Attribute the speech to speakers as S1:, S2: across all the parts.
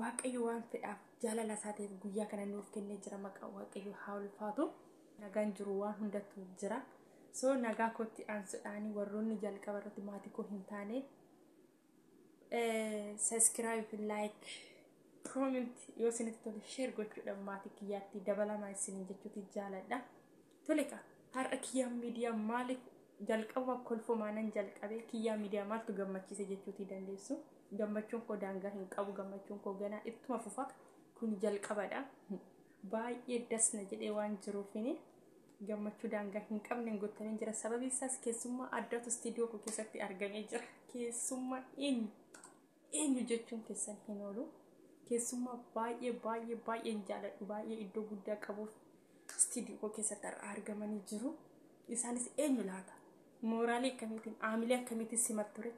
S1: Waaqayyo waan fedhaaf jaalala isaa ta'eef guyyaa kana nuuf kennee jira maqaa waaqayyo haa ulfaatu. Nagaan jiru waan hundattu jira. So nagaa kootti aansuudhaan warroonni jalqaba irratti maatii koo hin taane saskiraayib laayik koomenti yoo isinitti tole sheer gochuudhaan maatii kiyyaatti dabalamaa isiniin jechuuti jaaladha. Tole kaa har'a kiyyaa miidiyaa maaliif jalqabuma kolfumaanan jalqabee kiyyaa miidiyaa maaltu gammachiise jechuutii dandeessu. Gammachuun koo daangaa hin qabu gammachuun koo ganaa ittuma fufa kun jalqabadha. Baay'ee das na jedhee waan jiruufini gammachuu daangaa hin qabne hin guuttamin jira. Sababiin isaas keessummaa addaatu istiidiyoo koo keessatti argamee jira. Keessummaa eenyu? eenyu jechuun keessan hin oolu keessummaa baay'ee baay'ee baay'een jaaladhu baay'ee iddoo guddaa qabuuf istiidiyoo keessatti har'a argamanii jiru isaanis eenyu laata mooraalii akkamiitiin aamilee akkamiitiin simat ture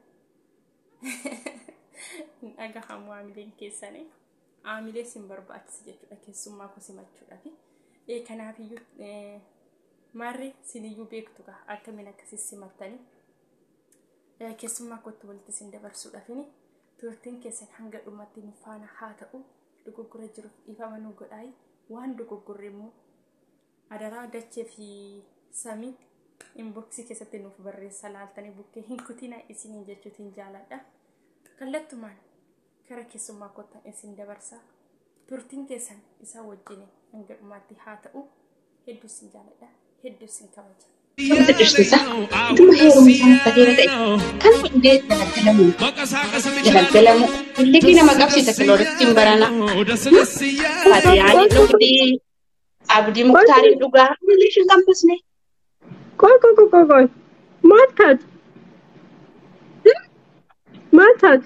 S1: hin dhagahamu aamileen keessanii aamilee sin barbaachisa jechuudha keessummaa koo simachuudhaaf ee kanaafiyyuu maarree siniyyuu beektu kaa akkamiin akkasii simattanii Keessummaa kootti walitti isin dabarsuudhaafini turtiin keessan hanga dhumatti nu faana haa ta'u dogoggora jiruuf dhiifama nu godhaayi waan dogoggorre immoo adaraa dachee fi samii inboksii keessatti nuuf barreessa laaltanii bukkee hin kutina isiniin jechuutiin jaaladha. Kallattumaan Gara keessummaa kottan isin dabarsa. Turtiin keessan isaa wajjin hanga dhumaatti haa ta'u. Hedduu isin jaaladha. Hedduu isin kabaja. Sirriitti dhirsiisa.
S2: Dhuma heerumni isaa murtateera ta'e. Kan hundee dalaggalamu. Dalaggalamu. Illikii nama qabsiisa kiloorittiin barana. Faatiyaa jedhu fidii. Abdii Muktaariin dhugaa English hin qabbisne. Qoy qoy
S3: qoy qoy qoy. Maal taate? Maal taate?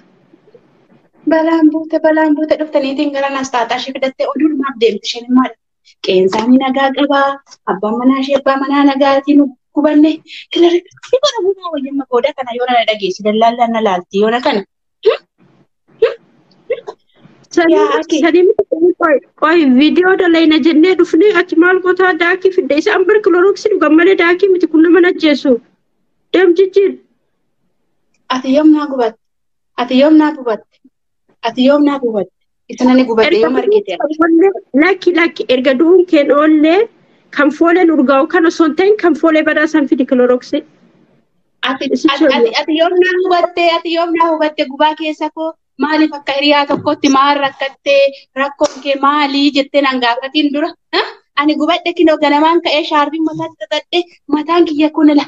S2: Balaan buute balaan buute dhufte niitiin gara naas taataa ishee fidattee oduu dhumaaf deemti isheen maal? Qeensaanii nagaa qabaa abbaan manaa ishee abbaa manaa nagaatiin nu gubanne kilirri si bara gumaa wayyamma booda kana yoo na dhageessi dallaallaan na laalti yoona kana
S3: Yaa ati. Qoy viidiyoo dalayna jennee dhufnee ati maal gotaa daakii fidde isaan bar kilorooksii dhugan malee daakii miti kun nama ajjeesu. Deem jijjiir.
S2: Ati yoom naa gubatte? Ati yoom naa gubatte? Ati yoom naa gubatte? Isa nani gubadhe Erga yoo margite. oollee lakki
S3: lakki erga du'uun keen oollee kan fooleen urgaa'u kan osoo hin ta'in kan foolee badaa san fidi kiloroksii. Ati Isi ati- ati-
S2: ati yoom naa hubatte ati yoom naa hubatte gubaa keessa koo maaliif akka hiriyaa tokkotti maal rakkattee rakkoon kee maalii jettee nan gaafatiin dura. ha? Ani gubadhe kinoo ganamaan ka'ee shaarbiin mataa xaxadhe mataan kiyya kun la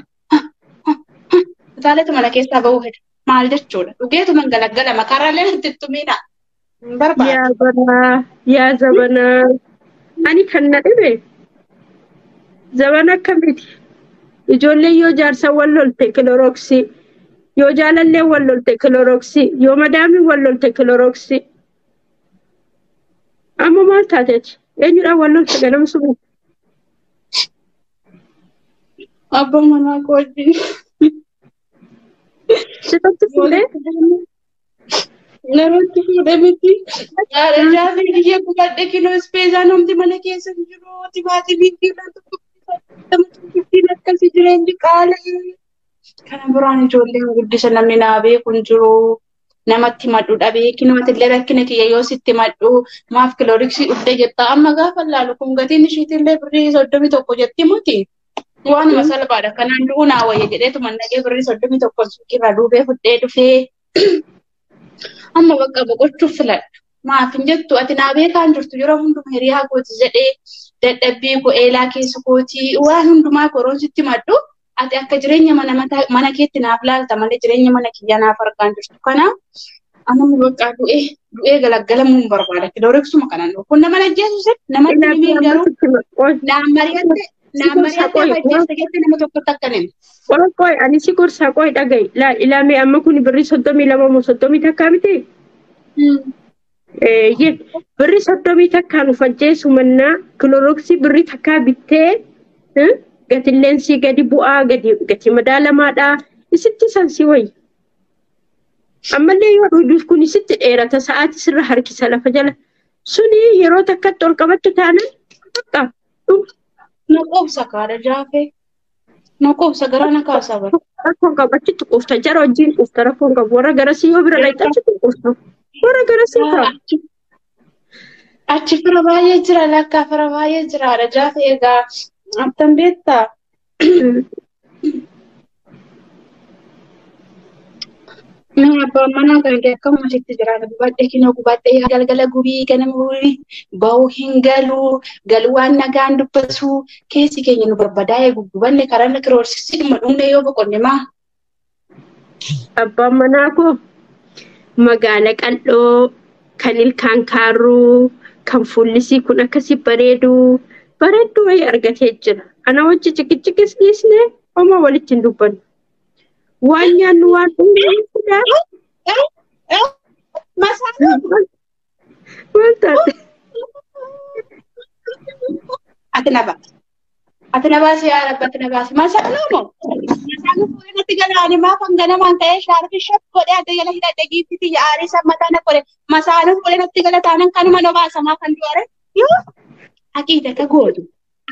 S2: Utaalee mana keessaa bahuu fedha. Maal jechuudha? Dhugeetu man galaggala makaaraalee natti hin tumiina. Hin Yaa barbaadu. banaa,
S3: yaa zabanaa. Ani kan na dhibe zabana akkamiiti? Ijoolleen yoo jaarsa wal lolte kiloroksii, yoo jaalallee wal lolte kiloroksii, yoo madaamii wal lolte kiloroksii. Amma maal taate ati? Eenyudhaan wal lolte ganama subii?
S2: Abba manaa koo wajjin.
S3: Sifatti fuudhee
S2: Namatti fuudhe miti. Haadha jaafii biyya gubadhe kinoo ispeesaa namti mana keessa hin jiru. Timaatimii fi wanti tokkittiin akkasii jireenyi qaala'ee. Kana biraan ijoolleen guddisa namni naa beeku hin jiru. namatti madhu dhabee kinumatillee rakkina kiyya yoo sitti madhu maaf kilooriksii dhufte jetta amma gaafa laalu kun gatiin ishiitillee birrii soddomii tokko jetti muti waanuma salphaadha kanaan du'uu naa wayya jedheetu mannaqee birrii soddomii tokko suuqiirraa duubee fudhee dhufee amma bakka boqochuuf filadha maaf hin jettu ati naa beekaan jirtu yeroo hunduma hiriyaa kooti jedhee dadhabbii koo eelaa keessa kootii waan hundumaa koroon sitti madhu ati akka jireenya mana mataa- mana keetti naaf laalta malee jireenya mana kiyyaa naaf argaan jirtu kana amma bakka du'ee du'ee galaggalamuu hin barbaada kilooreksuma kanan dhufu kun nama ajjeesus nama Ilaa dhibeen garuu qoy naan mari'atte naan Sikursa mari'atte qoy amma ajjeesta jettee nama tokkotti akka hin qoy qoy ani si
S3: gorsaa qoy dhaga'i. Laa ilaamee amma kun birrii soddomii lama moo soddomii takkaa miti? himne. Eeyyee birri soddomii takkaa nu fajjeessu mannaa kiloroksii birri takkaa bittee eh, gatilleen sii gadi bu'aa gadi gatii madaalamaadhaa isitti san si wayya. Ammallee yoo dhuuduuf kun isitti dheerata sa'aatii sirra harkisa lafa jala. Suni yeroo takkatti ol qabattu taanaan bakka dhuma.
S2: Na qoobsa kaadha jaafee. Nu quubsa garaa na kaasaa bara. Rakkoon qabu achitti
S3: quufta. Jara wajjin quufta rakkoon qabu. Warra garasii yoo bira dhaqxe achitti quufta. Warra garasii kaa. Achi achi
S2: fira baay'ee jira lakkaa fira baay'ee jira haadha jaafe egaa attan beektaa. Mm. Mee abbaan manaa kan kee akkuma sitti jiraata gubadhe kinoo gubadhe yaa galgala gubii ganama gubii ba'uu hin galuu galuu waan nagaan dubbatu keessi keenya nu barbadaa'e guggubanne karaa na kiroorsisii dhuma dhumne yoo boqonne maa. Abbaan
S3: manaa koo magaala qal'oo kan ilkaan kaarruu kan fuullisii kun akkasii bareedu bareedduu wayii argatee jira. Ana wajji ciqiciqis dhiisne homaa walitti hin dubbannu. Waan nyaannu waan Maal taate?
S2: Ati na baasi. Ati na baasi yaa rabbi ati na baasi. Masaaluu moo? Masaaluu fuudhee natti galaani maaf hanganamaan ka'ee shaarfi shaf godhee adda jala hidhadhe giifti tiyya aarii san mataa na qore. Masaaluu fuudhee natti gala taanan kanuma na baasa maaf kan du'are? Yoo haqiidata gootu.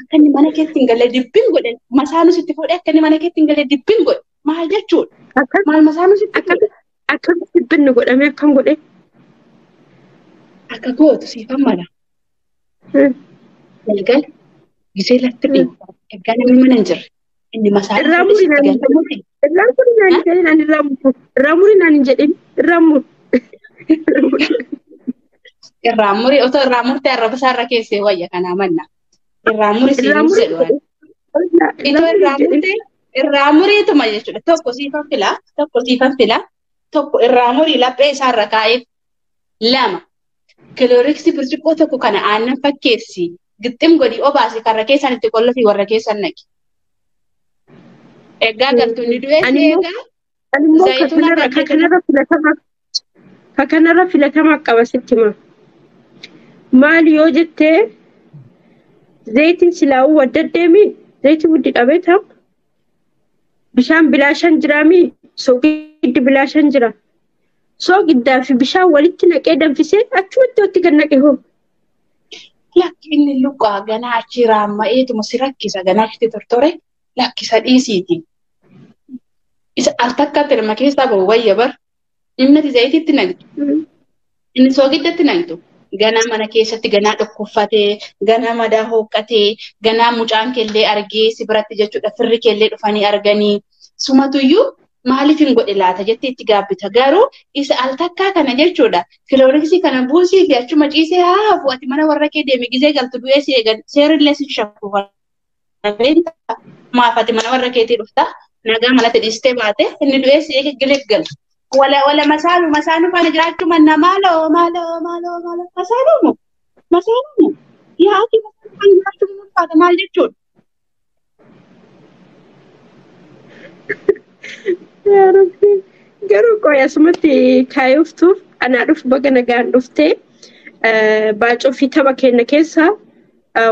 S2: akka inni mana keetti hin galle dibbin godhe masaanus itti fuudhee akka inni mana keetti hin galle dibbin godhe maal jechuudha Akka maal masaanus itti akka fuudhe akka dibbinni
S3: godhamee akkam godhee.
S2: akka gootu siifan mala galgala gisee lafti dhiibu ergaa namni mana hin jirre Inni masaa Irraa muri naan hin
S3: jedhin.
S2: Irraa
S3: muri naan hin jedhin. Ani irraa muri. Irraa muri naan hin jedhin. Irraa muri.
S2: Irraa muri otoo irraa murtee arrabsaa irra keessee wayya kanaa manna. Irraa muri siin Irraa hin muri. jedhu. Itoo irraa murtee irraa muriituma jechuudha. Tokko siifan filaa tokko siifan filaa tokko irraa murii laphee isaarra kaa'eef lama kilooriksii birciqqoo tokko kana aannan fakkeessi gixxim godhi obaasi karra keessan itti qollofii warra keessan naqi. Egaa galtu inni du'ees Ani immoo- eegaa Ani immoo ka Zayituun kanarra- akka ka kanarra
S3: filatama ka kanarra filatama qaba sitti hima. Maal yoo jettee zayitiin silaa'uu wadda deemi zayitii wuddi dhabee taa'u bishaan bilaashan jiraami soogiddi bilaashan jira soogiddaa fi bishaan walitti naqee danfisee achumatti watti gad naqe hoo.
S2: Lakki inni luqaa ganaa achii raamma'eetuma si rakkisa ganaa achitti tortore lakkisa dhiisiiti. Isa al takkaatti nama keessaa bahu wayya bar. Innati zayitiitti naqdi. Inni soogiddatti naqxu. Ganaa mana keessatti ganaa dhukkuffatee, ganaa madaa hooqqatee, ganaa mucaan keellee argee si biratti jechuudha. Firri keellee dhufanii arganii. Sumatuyyuu maaliif hin godhe laata jettee itti gaabbita. Garuu isa al takkaa kana jechuudha. Kilooriksii kana buusii fi achuma ciisee haa hafu ati mana warra kee deemi gizee galtu du'ee si eegan seerillee si shafu. maaf ati mana warra keetii dhufta nagaa manatti dhiistee baate inni du'ee si eege giliggala. Wala wala masaalu masaalu faana jiraachuu manna maaloo maaloo maaloo maaloo masaalu moo masaalu moo yaa ati masaalu faana jiraachuu ni ulfaata maal jechuudha.
S3: Yaa Rabbi. Garuu qoy asumatti kaayoftu anaa dhufu baga nagaan dhuftee baacoo fi tapha keenya keessaa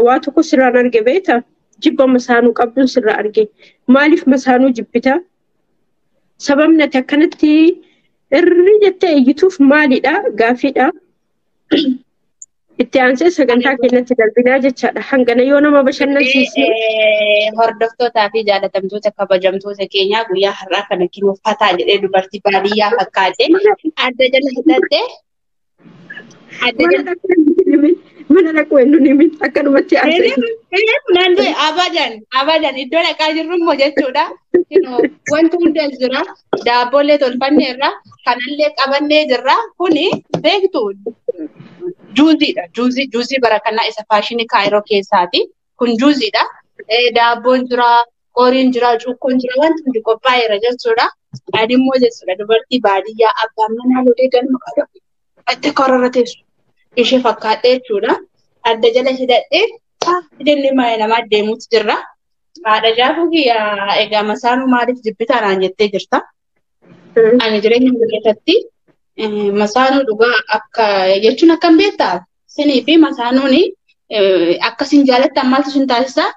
S3: Waa tokko sirraan arge beekta. Jibba masaanuu qabduun sirraa arge. Maaliif masaanuu jibbita? Sababni ati akkanatti irri jettee iyyituuf maalidha? Gaaffiidha. Itti aansee sagantaa keenyatti darbinaa jechaadha. Hangana yoo nama bashannansiisne. Hordoftootaa
S2: fi jaalatamtoota kabajamtoota keenyaa guyyaa har'aa kana kinuuffataa jedhee dubartii baadiyyaa fakkaatee adda jala hidhattee Mana dhaquu
S3: hin himi. Mana dhaquu hin himi. Akkanumatti haasa'e. Eeleef naan du'e
S2: abadan abadan iddoo dhaqaa jirru immoo jechuudha. Kunoo, Wanti hundi as jira. Daabboollee tolfannee irra kanallee qabannee jirra. Kuni beektu juuziidha. Juuzii juuzii bara kanaa isa faashinii kaayiroo keessaati. kun juuziidha. Daabboon jira, qoriin jira, cuukkoon jira, wanti hundi qophaa'eera jechuudha. Ani immoo jechuudha dubartii baadiyyaa abbaan manaa lolee galma qaba. Itti korora teessu. Ishee fakkaadhee jechuudha. Adda jala hidhadhee hidhannee maayee namaa deemuutu jirra. Haadha jaafuu kiyya egaa masaanuu maaliif jibbitaa naan jettee jirta. Ani jireenya koo keessatti eh, masaanuu dhugaa akka jechuun akkam beektaa? Sinii fi masaanuun eh, akka sin jaalattan maaltu sin taasisaa?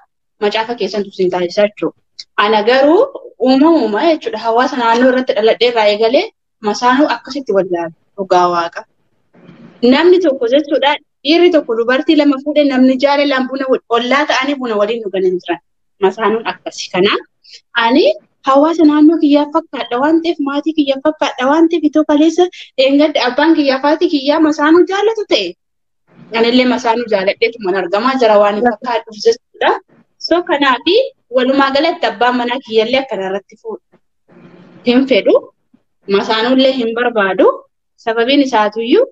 S2: Macaafa keessantu sin taasisaa jechuudha. Ana garuu uumamuma jechuudha hawaasa naannoo irratti dhaladhee irraa eegalee masaanuu akkasitti wallaala dhugaa waaqa. Namni tokko jechuudha dhiirri tokko dubartii lama fuudhee namni jaalalaan buna wal- ollaa ta'anii buna waliin dhugan hin jiran. Masaanuun akkasi. Kanaaf ani hawaasa naannoo kiyyaaf fakkaadha waan ta'eef maatii kiyyaaf fakkaadha waan ta'eef itoo kaleessa dheengadda abbaan kiyyaa faatii kiyyaa masaanuu jaallatu ta'e. Anillee masaanuu jaalladheetu man argamaa jira waan hin fakkaadhuuf jechuudha. So kanaaf walumaa galatti abbaan manaa kiyyallee akkana irratti fuudha. Hin fedhu. Masaanuullee hin barbaadu. Sababiin isaatuyyuu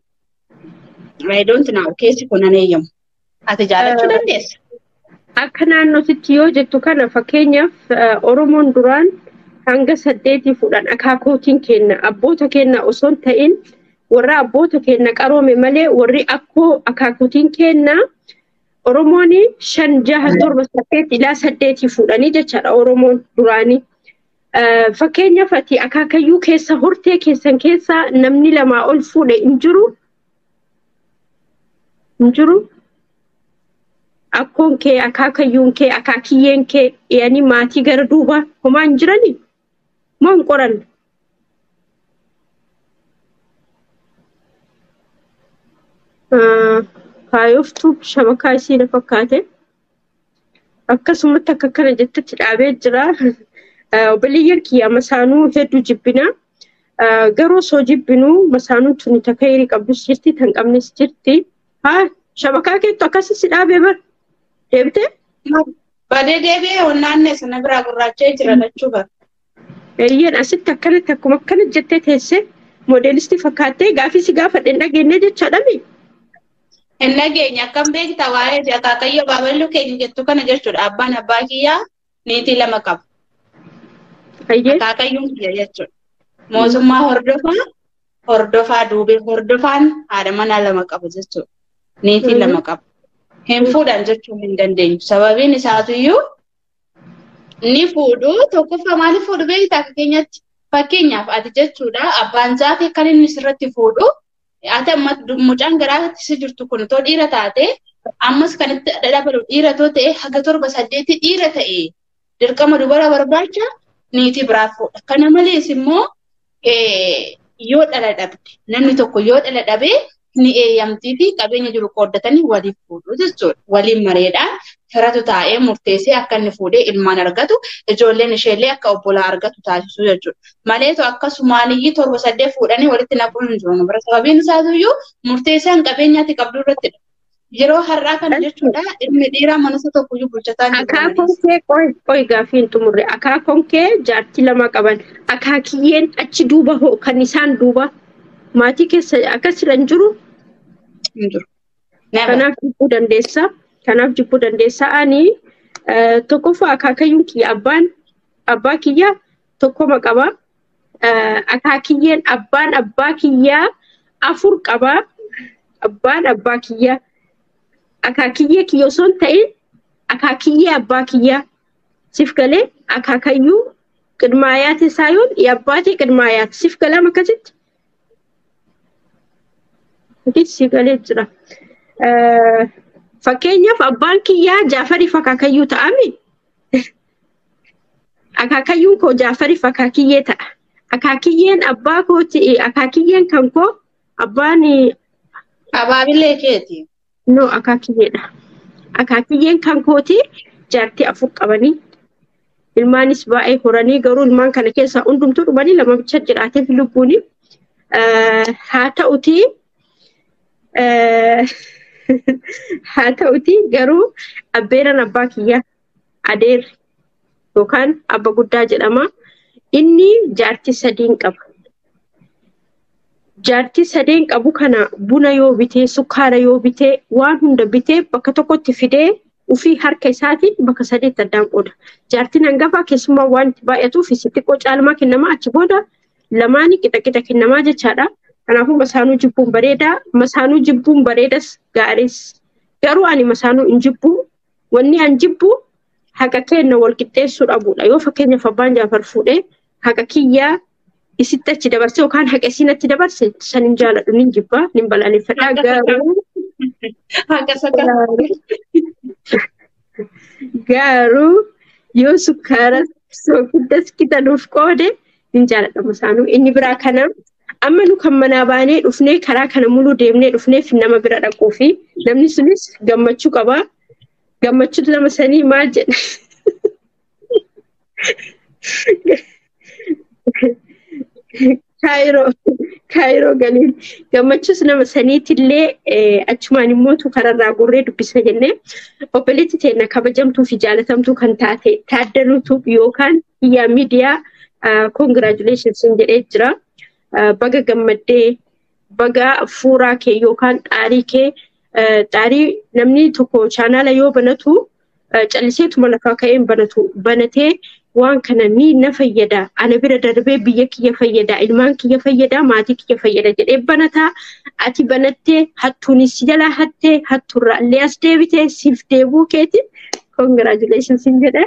S2: I don't know keessi kun hin eeyyamu. Ati jaalachuu dandeessa. Akka
S3: naannootitti yoo jettu kana fakkeenyaaf Oromoon duraan hanga saddeetii fuudhan akaakootiin kenna abboota kenna osoo hin ta'in warra abboota kenna qaroome malee warri akkoo akaakootiin kenna Oromoon shan jaha torba saddeet ilaa saddeetii fuudhanii jechaadha Oromoon duraanii. Fakkeenyaaf ati akaakayyuu keessa hortee keessan keessa namni lamaa ol fuudhe hin jiru hin jiru akkoon kee akaakayyuun kee akaakiyyeen kee dhiyanii maatii gara duubaa homaa hin jiranii moo hin qoranne kaayoftu shabakaa isii na fakkaate. Akkasumatti akka kana jettetti dhaabee jira. Obboleeyyan kiyya masaanuu hedduu jibbina. Garuu osoo jibbinu masaanuu tuni takka hirii qabdus jirti tan qabnes jirti. Haa shabakaa keettu akkasii si dhaabee bar deebitee.
S2: Badee deebi'ee onnaannee sana biraa gurraacha'ee jira lachuu bara. Eeyyeen
S3: asitti akkanatti akkuma akkana jettee teessee moodeelistii fakkaattee gaafii si gaafadhe hin dhageenye jechaadhami.
S2: Hin dhageenye akkam beekta waa'ee fi akaakayyoo baaballuu keenya jettu kana jechuudha. Abbaan abbaa kiyyaa niitii lama qaba. Ayyee Akaakayyuun kiyya jechuudha. Mootummaa hordofaa hordofaa duubee hordofaan haadha manaa lama qaba jechuudha. Niitii lama qaba. Hin fuudhan jechuun hin dandeenyu. Sababiin isaatiyyuu ni fuudhu tokkoffaa maaliif fuudhu beektaa akka keenyatti fakkeenyaaf ati jechuudha abbaan zaafee kan inni sirratti fuudhu ati amma mucaan garaa si jirtu kun too dhiira taate ammas kan itti dhadhabalu dhiira too ta'e haga torba saddeetti dhiira ta'e dirqama dubara barbaacha niitii biraa fuudha kana malees immoo yoo dhala dhabde namni tokko yoo dhala dhabee ni eeyyamtii fi qabeenya jiru qooddatanii waliif fuudhu jechuudha. Waliin mareedhaan firatu taa'ee murteessee akka inni fuudhee ilmaan argatu ijoolleen isheellee akka obbolaa argatu taasisuu jechuudha. Maleetu akkasumaaniyyii torba saddeet fuudhanii walitti naquun hin jiru. Bara sababiin isaatiyyuu murteessaan qabeenyaatti qabdu irratti Yeroo har'aa kana Eshi. jechuudha ilmi dhiiraa mana isa tokko iyyuu bulchataa hin jiru Akaakoon amalees. kee qoy qoy
S3: gaaffii hin xumurre. Akaakoon kee jaartii lama qaban. Akaakiyyeen achi duuba hoo kan isaan duuba maatii keessa akkasirra hin jiru. Hin jiru. Never. Kanaaf jibbuu dandeessa. Kanaaf jibbuu dandeessa. Ani eh, tokkoffaa akaakayyuun kiyya abbaan abbaa kiyya tokkoma qaba. akaakiyyeen abbaan abbaa kiyyaa afur qaba. Abbaan abbaa kiyyaa akaakiyyee kiyya osoo hin ta'in akaakiyyee abbaa kiyyaa siif galee akaakayyuu qidmaayaati isaa yoon abbaatee qidmaayaati siif galaam akkasitti. Atis siif galee jira. Fakkeenyaaf abbaan kiyyaa Jaafariif akaakayyuu ta'ame akaakayyuun koo jaafariif akaakiyyee ta'a akaakiyyeen abbaa kooti akaakiyyeen kan koo abbaan
S2: Abaabilee keeti. no akaakiyyeedha
S3: akaakiyyeen kan kooti jaartii afur qabanii ilmaanis baay'ee horanii garuu ilmaan kana keessaa hundumtuu dhumanii lama bicha jiraateef lubbuuni Eh, haa ta'uti eh, haa ta'uti garuu abbeeran abbaa kiyyaa adeerri yookaan abba guddaa jedhama. Inni jaartii sadiin qaba. Jaartii sadeen qabu kana buna yoo bitee, sukkaara yoo bitee, waan hunda bitee bakka tokkotti fidee ofii harka isaatiin bakka sadeetti addaan qooda. Jaartiin hangafaa keessumaa waan itti baay'atuuf isa xiqqoo caalmaa kennamaa achi booda lamaanii qixa qixa kennamaa jechaadha. Kanaafuu masaanuu jibbuun bareedaa, masaanuu jibbuun bareedas gaariis. Garuu ani masaanuu hin jibbuu Wanni an jibbu haqa keenna wal qixxeessuu dhabuudha. Yoo fakkeenyaaf abbaan Jaafar fuudhee haqa kiyyaa isitti achi dabarse yookaan haqa isiin achi dabarse san hin jaaladhu nin jibba nin balaaleffadha Haqa isa garuu Haqa isa kan garuu yoo sukkaara soogiddas qixaluuf qoode Hin jaaladhamu isaanuu. Inni biraa kana amma nu kan manaa baanee dhufnee karaa kana muluu deemnee dhufneef nama bira dhaquu fi namni sunis gammachuu qaba. Gammachuun lama sanii maal jedha? Kaayiroo kaayiroo galiin gammachuus nama saniitillee achumaan immoo tu kararraa gorree dubbisna jennee obboleetti teenna kabajamtuu fi jaalatamtuu kan taate taaddaluutu yookaan Yaa miidiyaa congratulations sin jedhee jira. Baga gammaddee baga fuuraa kee yookaan xaarii kee xaarii namni tokko chaanaala yoo banatu calliseetuma lafaa ka'een banatu banatee waan kana ni na fayyada ana bira darbee biyya kiyya fayyada ilmaan kiyya fayyada maatii kiyya fayyada jedhee banataa ati banattee hattuunis si jalaa hattee hattuurraa illee as deebitee siif deebuu keetiin congratulations sin jedhee.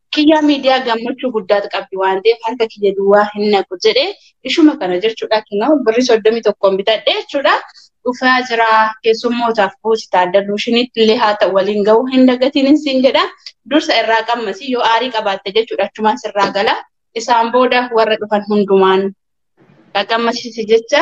S2: Kiyyaa miidiyaa gammachuu guddaat qabdi waan ta'eef harka kiyya duwwaa hin naqu jedhe ishuma kana jechuudha kinoo birri soddomii tokkoon bitadhe jechuudha dhufaa jira keessummootaaf buusi taaddaluu shinitti illee haa ta'u waliin ga'uu hin dagatinin siin jedha dursa irraa qammasi yoo aarii qabaatte jechuudha achumaan sirraa gala isaan booda warra dhufan hundumaan qaqqammasiisi jecha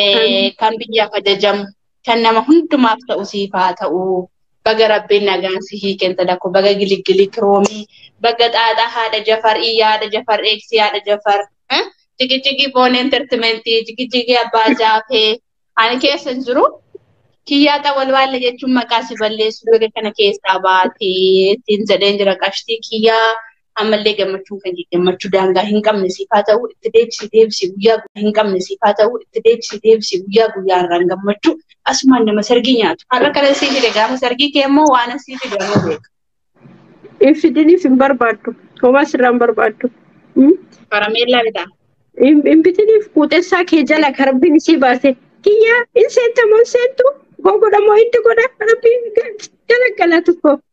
S2: eh, kan biyyaaf ajajamu kan nama hundumaaf ta'u siif haa ta'u baga rabbiin nagaan si hiikeen sadako baga giligilii kiroomii baga xaaxaa haadha jafar iyyaa haadha jafar eegsii haadha jafar eh? jigijigii boon entertimentii jigijigii abbaa jaafee ani keessa hin jiru kiyyaa xawalwaalle jechuun maqaa si balleessu bega kana keessaa baatee ittiin jedheen jira qashtii kiyyaa ammallee gammachuun kan gammachuu daangaa hin qabne siif haa ta'u itti deebisi deebisi guyyaa guyyaa hin qabne siif haa ta'u itti deebisi deebisi guyyaa guyyaa irraan gammachuu asumaan nama sargii nyaatu har'a kana siif fide gaafa sargii kee immoo waan siif fide nama beeka.
S3: Ibsidinis hin barbaaddu. Homaas irraa hin barbaaddu.
S2: Karameellaa bitaa. Inbitiniif
S3: kuutessaa kee jala karbiin isii baase. Kiyyaa in seetta moo hin seettu? Gogodha moo itti godha? Rabbiin jala galatu koo.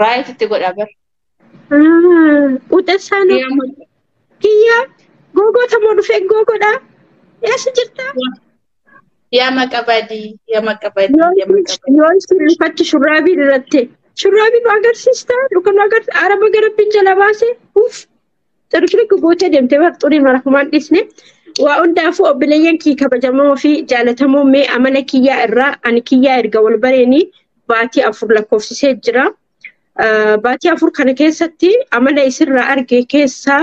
S2: Raayit itti godha bar.
S3: Quxessaa Ni amma kiyyaa googoota moo dhufee googodhaa eessa jirtaa?
S2: yaa maqa badii yaa maqa badii yaa
S3: maqa badii. Yoo isin rifatti shurraabii irratti shurraabii nu agarsiistaa yookaan nu agarsiisa araba garabbiin jala baasee uff Xiru shirikki gootee deemtee bar xurii mara kumaan dhiisne. Waa hundaafuu obboleeyyan kii kabajamoo fi jaalatamoo mee amala kiyyaa irraa ani kiyyaa erga wal bareenii baatii afur lakkoofsisee jira. Ah, Baatii afur kana keessatti amala isirraa arge keessaa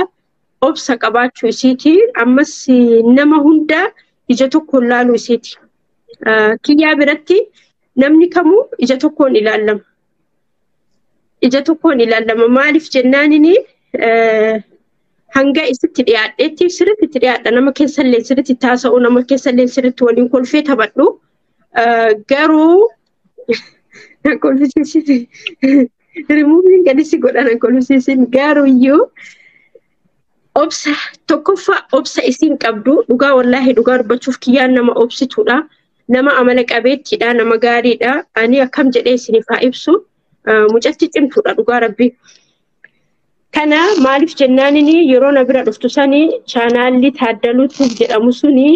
S3: obsa qabaachuu isiiti. Ammas eh, nama hunda ija tokkoon laaluu isiiti. Ah, Kiyyaa biratti namni kamuu ija tokkoon ilaalama. ija tokkoon ilaalama maaliif jennaanin hanga isitti dhiyaadheetti sirriitti itti dhiyaadha nama keessallee sirriitti taasa'u nama keessallee sirriitti waliin kolfee taphadhu garuu na kolfisiisite rimuuviin gadi si godha na kolfisiisin garuu iyyuu obsa tokkoffaa obsa isiin qabdu dhugaa wallaahi dhugaa dubbachuuf kiyyaan nama obsituudha nama amala qabeettiidha nama gaariidha ani akkam jedhee isiniif haa ibsu mucatti cimtuudha dhugaa rabbi. Kana maaliif jennaanin yeroo na bira dhuftu sani chaanaalli taaddaluu jedhamu suni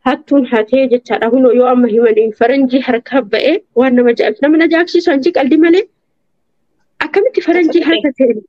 S3: hattuun hatee jechaadha kunoo yoo amma himaniin faranjii harkaa ba'e waan nama jaabsisu nama na jaabsisu anjii qaldi malee akkamitti faranjii harka seenu.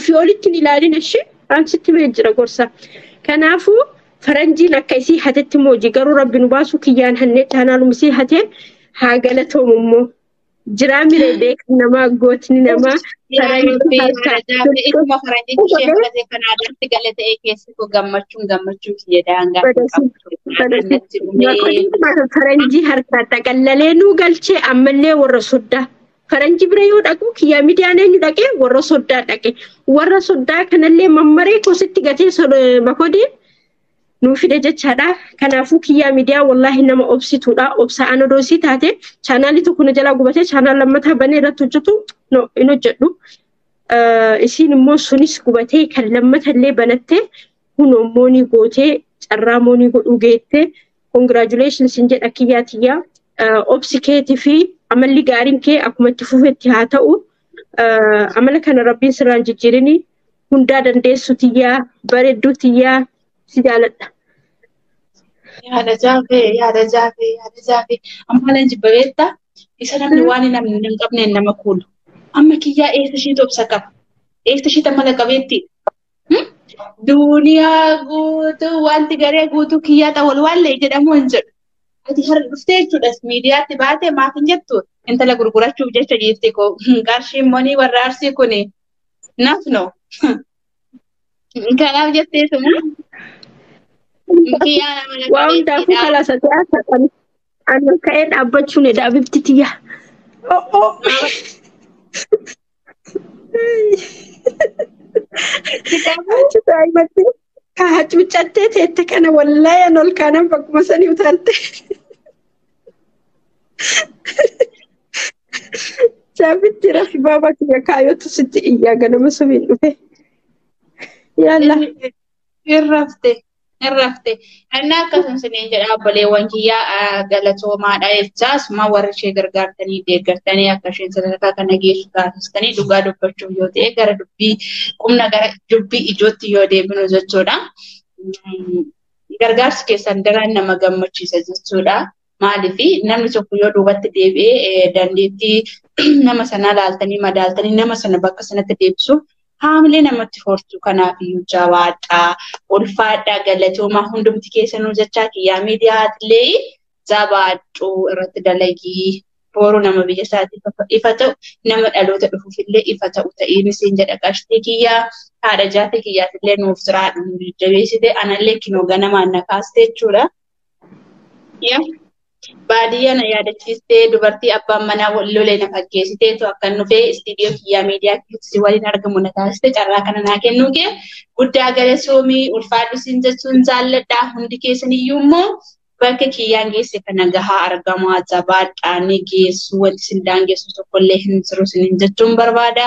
S3: Ofii olitti hin ilaalin ishee an sitti mee jira gorsa. Kanaafuu faranjiin akka isii hatetti immoo hojii garuu rabbi nu baasuu kiyyaan hannee chaanaaluma isii hateen haa galatoomu immoo. Jiraa miree beekan namaa gootni namaa faranjii harkaa.
S2: Ituma faranjichi ishee fudhatee kan aadaatti gale ta'ee keessi koo gammachuun gammachuun kiyya daangaa hin qabdu. Addunyaatti
S3: dhumee. Faranjii harkaa xaqallalee nuu galchee ammallee warra soddaa. Faranji bira yoo dhaqu kiyyaa midiyaan eenyu dhaqe warra soddaa dhaqe. Warra soddaa kanallee mammaree kositti gatee bakodee nuu fide jechaadha. Kanaafuu kiyyaa midiyaa wallaahi nama obsituudha. Obsaa ana doosii taate chaanaalii tokko na jalaa gubatee chaanaal lammataa banee irratti hojjetu no hin hojjedhu. Isiin immoo sunis gubatee kan lammatallee banattee kun immoo ni gootee carraa immoo ni godhuu geettee Congratulations sin jedha kiyyaa tiyyaa. Obsi keetii fi amalli gaariin kee akkuma itti fufetti haa ta'u. Amala kana rabbiin sirraan jijjiirini. Hundaa dandeessu tiyyaa, bareedduu tiyyaa si jaaladha. Yaada
S2: jaafee, yaada jaafee, yaada jaafee. Amma leenji bareetta. Isa namni waan hin amne hin qabneen nama kuulu. Amma kiyyaa eessa ishiitu obsa qaba? Eessa ishiitu amala qabeetti? Duuniyaa guutuu wanti garee guutuu kiyyaa ta'a wal waallee jedhamu hin jedhu. Ati har'a dhuftee jechuudhas miidiyaatti baatee maaf hin jettu intala gurgurachuuf jecha dhiifti koo qarshiin monii warra arsii kun naaf no. Kanaaf jettee suma kiyyaa
S3: nama lafa Waa hundaafuu beektiidha. kalaasa ta'aa ta'an. Ani ka'ee dhaabbachuun edaa bifti tiyyaa. Oh, oh. Kitaaba Achi daa'imatti ka hacuucattee teette kana wallahi an ol kaanan bakkuma sanii utaalte. Jaabitti rafi baaba kiyya kaayootu sitti iyyaa ganama subiin dhufe. Yaallah.
S2: Irrafte. Irrafte. Annaa akkasuma isiniin jedha obboleewwan kiyyaa ah, galatoomaadha jechaa asuma warri ishee gargaartanii deeggartanii akka isheen sadarkaa kana geessu taasistanii dhugaa dubbachuuf yoo ta'e gara dubbii qubna gara dubbii ijootti yoo deebinu jechuudha. Mm, Gargaarsi keessan daran nama gammachiisa jechuudha. Maaliif namni tokko yoo duubatti deebi'ee dandeettii nama sanaa laaltanii madaaltanii nama sana bakka sanatti deebisuuf haamilee namatti hortu kanaaf iyyuu jabaadhaa ulfaadhaa galatoomaa hundumti keessanuu jechaa kiyyaa miidiyaatillee jabaadhuu irratti dalagii booruu nama biyya isaatiif ifa ta'u nama dhaloota dhufuuf illee ifa ta'u ta'ee misiin jedha qashtii kiyyaa haadha jaafii kiyyaaf illee nuuf jiraadhu jabeessite anallee kinoo ganamaan na kaaste jechuudha. Yaa baadiyyaa na yaadachiistee dubartii abbaan manaa wal lolee na fakkeessiteetu akkan dhufee istiidiyoo kiyyaa miidiyaa kiyyatti si waliin argamu na taasiste carraa kana naa kennuu kee guddaa galatoomii ulfaadhu siin jechuun jaalladhaa hundi keessaniyyuu immoo bakka kiyyaan geesse kana gahaa argamaa jabaadhaa ni geessu wanti sin daangeessu tokkollee hin jiru sinin jechuun barbaada.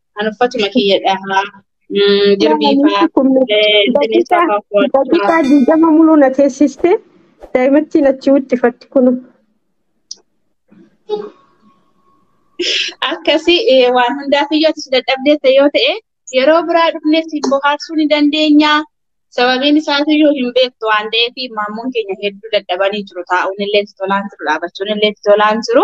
S2: An uffatuma kiyya dhahaa. Mm, Jirbii faa. eh, Bineensa faa uffadha.
S3: Daqiiqaa
S2: digdama muluu na
S3: teessistee daa'imattiin achi wixxifatti kunu.
S2: Akkasi eh, waan hundaaf iyyuu ati si dadhabdeetta yoo ta'e yeroo biraa dhufnee si bohaarsuu ni dandeenya. Sababiin isaas iyyuu hin beektu waan ta'eef maammoon keenya hedduu dadhabanii jiru. Taa'uun illee itti tolaan jiru, dhaabachuun illee itti tolaan jiru.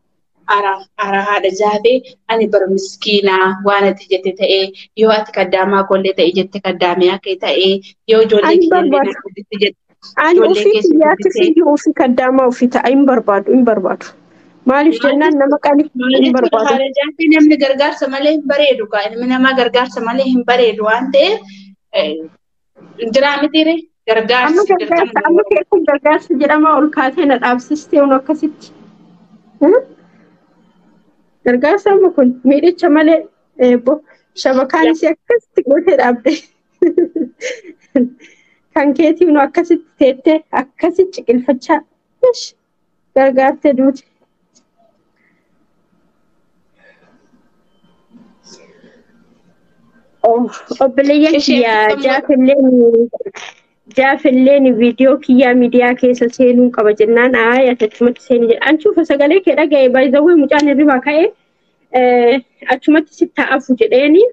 S3: ara
S2: ara haadha jaabee ani bar miskiinaa waan ati jette ta'ee yoo ati kaddaamaa koollee ta'e jette kaddaamee akka ta'ee yoo ijoollee Ani kiyya illee barbaada. natti jette jette Ani ijoollee ofii keessa
S3: kiyyaatti guddisee fiyyuu ofii kaddaamaa ofii ta'a hin barbaadu hin barbaadu. Maaliif maal jennaan jechuudha nama qali maal hin jechuudha barbaadu. haadha jaabee namni
S2: gargaarsa malee hin bareedu kaa ilmi namaa gargaarsa malee hin bareedu waan ta'eef eh, Jiraa mitiire gargaarsa Amma gargaarsa sagaltamni amma kee kun
S3: gargaarsa jedhamaa ol kaatee na dhaabsistee unu akkasitti. Hmm? Gargaarsa amma kun miidhicha malee eebbo shabakaan isii akkasitti gootee dhaabde. Kan keetii unu akkasitti teettee akkasitti ciqilfachaa. Ish. Gargaarte duute. Obboleeyyan Isheen kiyya qabdu- jaafilleen jaafilleen viidiyoo kiyyaa miidiyaa keessa seenuu qaba jennaan aayee achumatti seeni jedha. An cufa sagalee kee dhaga'e baay'isawwan mucaan hirribaa ka'e eh, achumatti si taa'afu jedheeni.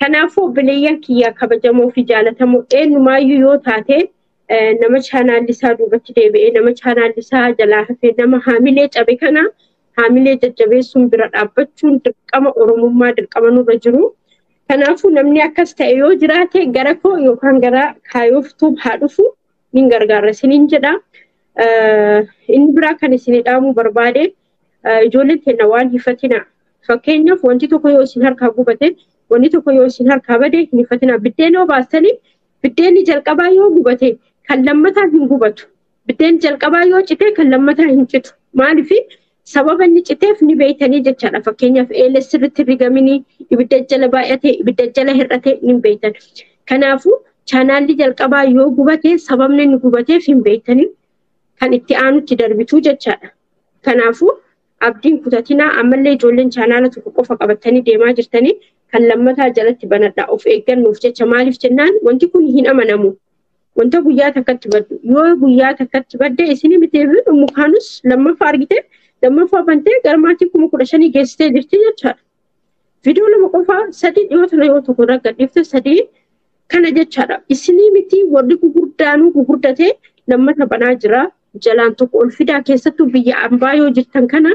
S3: Kanaafuu obboleeyyan kiyya kabajamoo fi jaalatamoo eenyumaayyuu yoo taate nama chaanaalli isaa duubatti deebi'ee nama chaanaalli isaa jalaa hafee nama haamilee cabe kana haamilee jajjabeessuun bira dhaabbachuun dirqama oromummaa dirqama nurra jiru. Kanaafuu namni akkas ta'e yoo jiraate gara koo yookaan gara kaayoftuun haa dhufu nin gargaara isiniin jedha. Inni biraa kan isin dhaamuu barbaade ijoolleen keenya waan hifatina. Fakkeenyaaf wanti tokko yoo isin harkaa gubate wanti tokko yoo isin harkaa bade hin hifatina. Biddeen yoo baastanii Biddeenni jalqabaa yoo gubate kan lammataa hin gubatu. Biddeenni jalqabaa yoo cite kan lammataa hin citu. Maaliif sababa inni citeef ni beektanii jechaadha. Fakkeenyaaf eeles sirriitti rigaminii ibidda jala baay'atee ibidda jala hir'atee ni beektan. Kanaafuu chaanaalli jalqabaa yoo gubate sababni inni gubateef hin beektanii kan itti aanutti darbituu jechaadha. Kanaafuu Abdii hin kutatinaa ammallee ijoolleen chaanaala tokko qofa qabattanii deemaa jirtanii kan lammataa jalatti banadhaa of eeggannoof jecha maaliif jennaan wanti kun hin amanamu. Wanta guyyaa takkatti baddu yoo guyyaa takkatti badde isinii miti dhummu kaanus lammaffaa argite lammaffaa bantee gara maatii kuma kudha shanii geessitee jirti jechaadha. Viidiyoo lama qofaa sadii dhiyoo tana yoo tokko irra gadhiifte sadii kana jechaadha. Isinii miti warri gugurdaanuu gugurdatee lammata banaa jira jalaan tokko ol fidaa keessattuu biyya ambaa yoo jirtan kana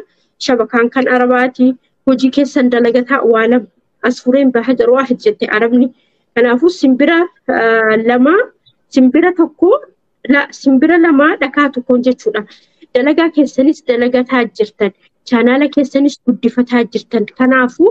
S3: shabakaan kan arabaati hojii keessan dalagataa waa lama as fureen baha jedhu waa jette arabni kanaafuu simbira lama simbira tokko simbira lama dhakaa tokkoon jechuudha dalagaa keessanis dalagataa jirtan chaanaala keessanis guddifataa jirtan kanaafuu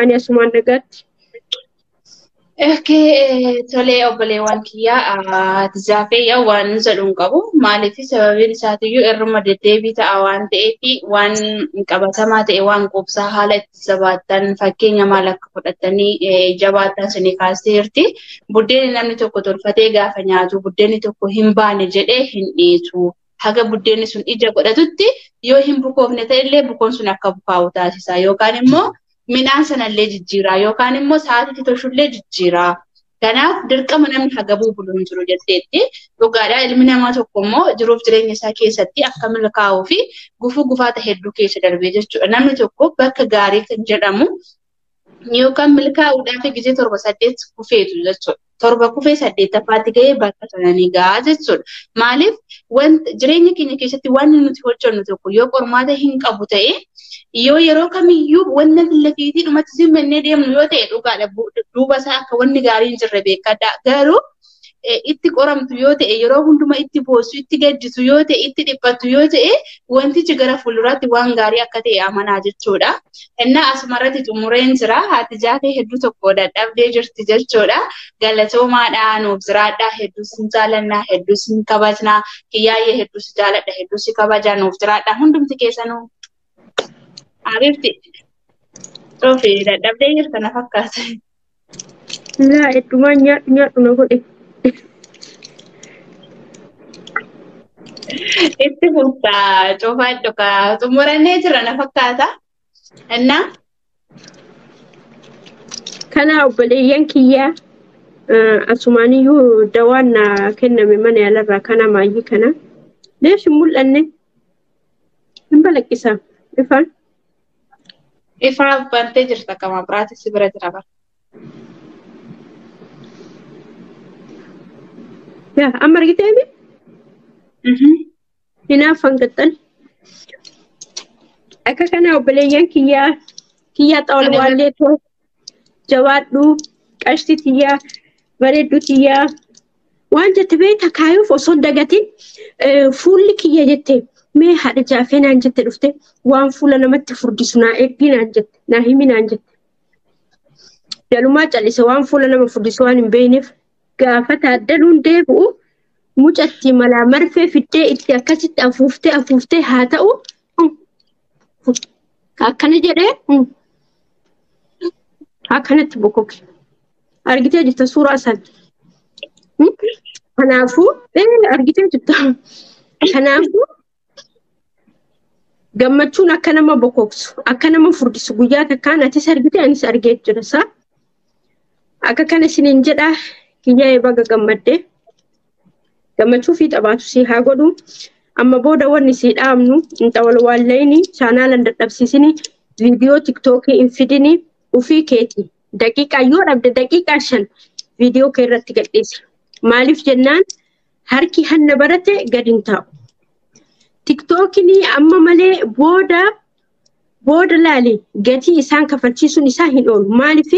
S3: Ani asumaan nagaatti. Okay,
S2: tolee obboleewwan kiyyaa tizaafee yaa waan jedhu hin qabu. Maaliif sababiin isaatiyyuu irruma deddeebii ta'a waan ta'eef waan qabatamaa ta'e waan quubsaa haala itti jabaattan fakkeenya maal akka fudhattanii jabaattan suni kaastee jirti. Buddeenni namni tokko tolfatee gaafa nyaatu buddeenni tokko hin baane jedhee hin dhiisu. haga buddeenni sun ija godhatutti yoo hin bukoofne ta'ellee bukoon sun akka bukaa'u taasisa yookaan immoo midhaan sanallee jijjiiraa yookaan immoo sa'aatiitti tolchullee jijjiiraa. Kanaaf dirqama namni hagabuu bulu hin jiru jetteetti. Dhugaadhaa ilmi namaa tokko immoo jiruuf jireenya isaa keessatti akka milkaa'uu fi gufuu gufaata hedduu keessa darbee jechuudha. Namni tokko bakka gaarii kan jedhamu yookaan milkaa'uudhaaf gisee torba saddeet kufeetu jechuudha. Torba kufee saddeettaffaatti ga'ee bakka sananii ga'a jechuudha. Maaliif jireenya keenya keessatti wanti nuti hojjennu tokko yoo qormaata hin qabu ta'e yoo yeroo kamiyyuu wanna lafiitii dhumatti simmannee deemnu yoo ta'e dhugaadha duuba isaa akka wanni gaarii hin jirre beekadha. Garuu itti qoramtu yoo ta'e yeroo hundumaa itti boossu itti gaddisu yoo ta'e itti dhiphattu yoo ta'e wantichi gara fuulduraatti waan gaarii akka ta'e amanaa jechuudha. Innaa asumarratti xumureen jira haati jaatee hedduu tokko dadhabdee jirti jechuudha. Galatoomaadha nuuf jiraadha hedduu sin jaalannaa hedduu sin kabajnaa kiyyaayyee hedduu si jaaladha hedduu si kabaja nuuf jiraadha hundumti keessanuu. Abibti. Toofi dadhabdee jirta na fakkaata.
S3: Laa eddumaan nyaadhu nyaadhu na godhe.
S2: Itti fufta cufaa dhugaa xumurannee jira na fakkaata. Innaa
S3: Kanaa obboleeyyan kiyyaa eh, asumaaniyyuu dawaan na kenname mana yaalarraa kana maayyii kana. Leesh hin mul'anne hin balaqqisaa ifaan.
S2: Ifaa bantee jirta akka mabraati si bira jira bara.
S3: Yaa amma argitee mi? Hinaaffan gaxxan. Akka kana obboleeyyan kiyyaa kiyyaa xawalwaallee too jabaadhu qashti tiyyaa bareeddu tiyyaa waan jette beekta kaayuuf osoo hin dagatin eh, fuulli kiyya jette mee haadha jaafee naan jette dhufte waan fuula namatti furdisu naa eeggii naan jette naa himi naan jette dalumaa callise waan fuula nama furdisu waan hin beekneef gaafa taaddaluun deebi'u mucatti malaa marfee fiddee itti akkasitti afuuftee afuuftee haa ta'u akkana jedhee akkanatti bokoke argitee jirta suuraa san kanaafuu argitee jirta kanaafuu gammachuun akka nama bokoksu akka nama furdisu guyyaa takkaan atis argite anis argee jira isaa akka kana isiniin jedhaa kiyyaa'ee baga gammaddee. gammachuu fi taphaatu sii haa godhu amma booda wanni sii dhaamnu inta wal waallayini chaanaalan dadhabsiisini viidiyoo tiktookii hin fidini ufii keeti daqiiqaa yoo dhabde daqiiqaa shan viidiyoo kee irratti gadhiisi maaliif jennaan harki hanna barate gadi hin taa'u tiktookini amma malee booda booda laali gatii isaan kafalchiisuun isaa hin oolu maaliif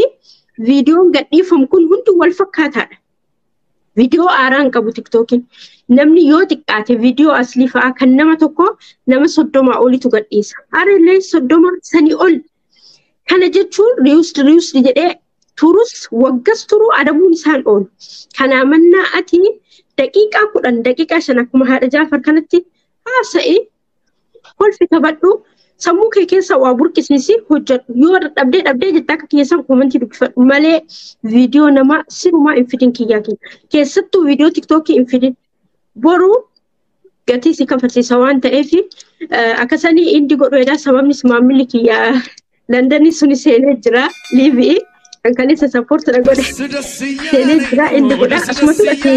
S3: viidiyoon gadhiifamu kun hundi wal fakkaataadha Viidiyoo haaraa hin qabu tiktookiin. Namni yoo xiqqaate viidiyoo aslii fa'aa kan nama tokko nama soddomaa olitu gadhiisa. Harallee soddoma sanii ol. Kana jechuun riusd riusd jedhee turus waggas turuu adabuun isaan oolu. Kanaa mannaa ati daqiiqaa kudhan daqiiqaa shan akkuma haadha jaafar kanatti haasa'e Kolfi taphadhu sammuu kee keessa waa burqisiisi hojjedhu yoo dhabdee dhabdee jette akka keessan koomentii dubbifadhu malee viidiyoo namaa sirumaa hin fidin kiyyaa kiyya keessattuu viidiyoo tiktookii hin fidin boruu gatii si kafarsiisa waan ta'eef akkasanii indi godhu edaa sababnis maamilli kiyya Londonii suni seenee jira liibii kan kaleessa sappoorti na godhe seenee jira indi godha akkasumas ati